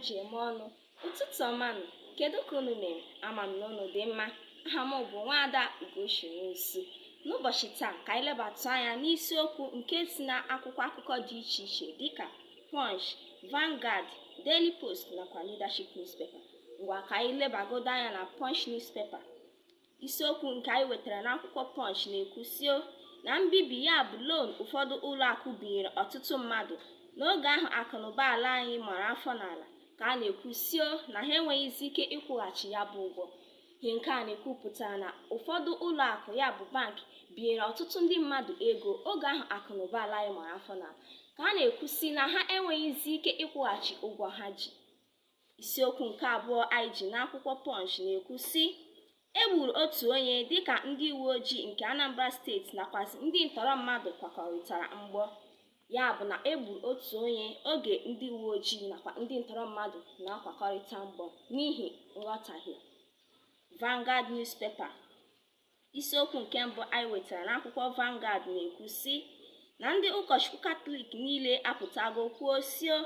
ji eme ọnụ ụtụtụ ọma nụ kedu ka unu mere ama m na unu dị mma aha m bụ nwaada ugochi nwosu n'ụbọchị taa ka anyị lebatụ anya n'isiokwu nke si na akwụkwọ akụkọ dị iche iche dịka punch Vanguard Daily Post nakwa Leadership newspaper ngwa ka anyị lebagodo anya na punch newspaper isiokwu nke anyị wetara n'akwụkwọ Punch na-ekwu sio na mbibi ya bụ loan ụfọdụ ụlọ akụ binyere ọtụtụ mmadụ n'oge ahụ akụnụba ala anyị mara afọ n'ala ka a na-ekwu sio na ha enweghịzi ike ịkwụghachi ya bụ ụgwọ ihe nke a na-ekwupụtara na ụfọdụ ụlọ akụ ya bụ bank binyere ọtụtụ ndị mmadụ ego oge ahụ akụnụba ala anyị mara afọ n'ala ka a na-ekwu sị na ha enweghịzi ike ịkwụghachi ụgwọ ha ji isiokwu nke abụọ anyị ji n'akwụkwọ Punch na-ekwu sị e gburu otu onye dịka ndị uwe ojii nke Anambra steeti nakwazi ndị ntọrọ mmadụ kwakọrịtara mgbọ ya bụ na e gburu otu onye oge ndị uwe ojii nakwa ndị ntọrọ mmadụ na-akwakọrịta mgbọ n'ihi nghọtahie Vanguard newspaper isiokwu nke mbụ anyị wetara n'akwụkwọ Vanguard na-ekwu sị na ndị ụkọchukwu katọlik niile apụtago kwuo sio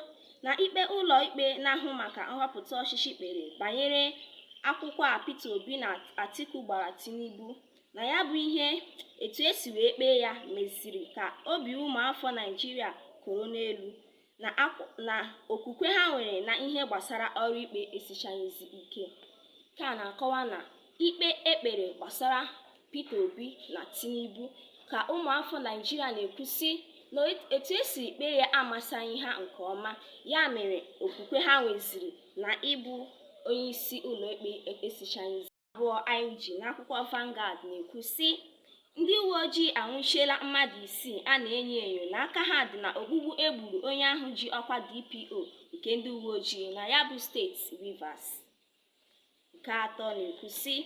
na ikpe ụlọ ikpe na-ahụ maka nhọpụta ọchịchị kpere banyere akwụkwọ a Peter Obi na Atiku gbara Tinubu na ya bụ ihe etu esi wee kpee ya meziri ka obi ụmụafọ Naijiria koro n'elu na okwu na okwukwe ha nwere na ihe gbasara ọrụ ikpe esichaghịzi ike ka a na-akọwa na ikpe ekpere gbasara Peter Obi na Tinubu ka ụmụafọ Naijiria na-ekwu sị na etu esiri kpee ya amasaghị ha nke ọma ya mere okwukwe ha nweziri na ịbụ onye isi ụlọikpe esichaghịzi abụọ anyị ji n'akwụkwọ Vanguard na-ekwu sị ndị uwe ojii anwụchiela mmadụ isii a na-enyo enyo na aka ha dị na ogbugbu egburu onye ahụ ji ọkwa DPO nke ndị uwe ojii na ya bụ steeti Rivers nke atọ na-ekwu sị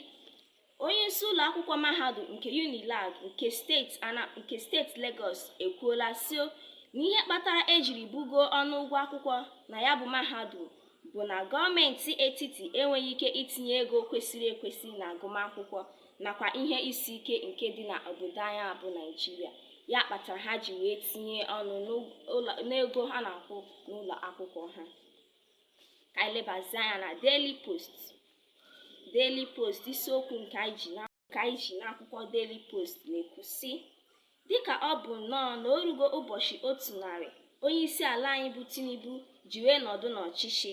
onye isi ụlọ akwụkwọ mahadum nke Unilag nke steeti ana nke steeti Lagos ekwuola sio na ihe kpatara ejiri bugo ọnụ ụgwọ akwụkwọ na ya bụ mahadum bụ na gọọmenti etiti enweghị ike itinye ego kwesịrị ekwesị na agụmakwụkwọ nakwa ihe isi ike nke dị na obodo anyị bụ Naijiria ya kpatara ha ji wee tinye ọnụ n'ego ha na-akwụ n'ụlọ akwụkwọ ha ka anyị lebazie anya na Daily Post Daily Post isiokwu nke anyị ji na ka anyị ji n'akwụkwọ Daily Post na-ekwu sị dịka ọ bụ nnọọ na orugo ụbọchị otu narị onye isi ala anyị bụ Tinubu ji wee nọdụ n'ọchịchị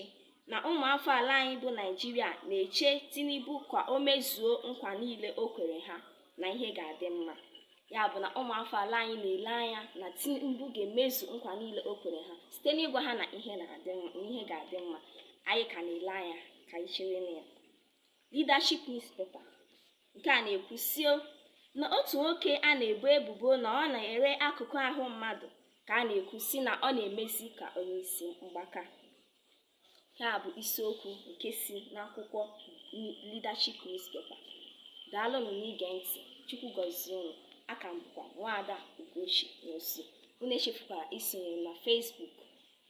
na ụmụafọ ala anyị bụ Naijiria na-eche Tinubu ka o mezuo nkwa niile o kwere ha na ihe ga-adị mma ya bụ na ụmụafọ ala anyị na-ele anya na Tinubu ga-emezu nkwa niile o kwere ha site n'ịgwa ha na ihe ga-adị mma anyị ka na-ele anya ka anyị chere na ya Leadership Newspaper nke a na-ekwu sị o na otu nwoke a na-ebo ebubo na ọ na-ere akụkụ ahụ mmadụ ka a na-ekwu sị na ọ na-emezi ka onye isi mgbaka ya bụ isiokwu nke si n'akwụkwọ Leadership Newspaper daalụnụ n'ige ntị chukwu gọzie unu aka m bụkwa nwaada Ugochi Nwosu unu echefukwara isonyere na Facebook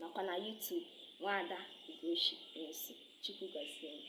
nakwa na YouTube nwaada Ugochi Nwosu Chukwu gọzie unu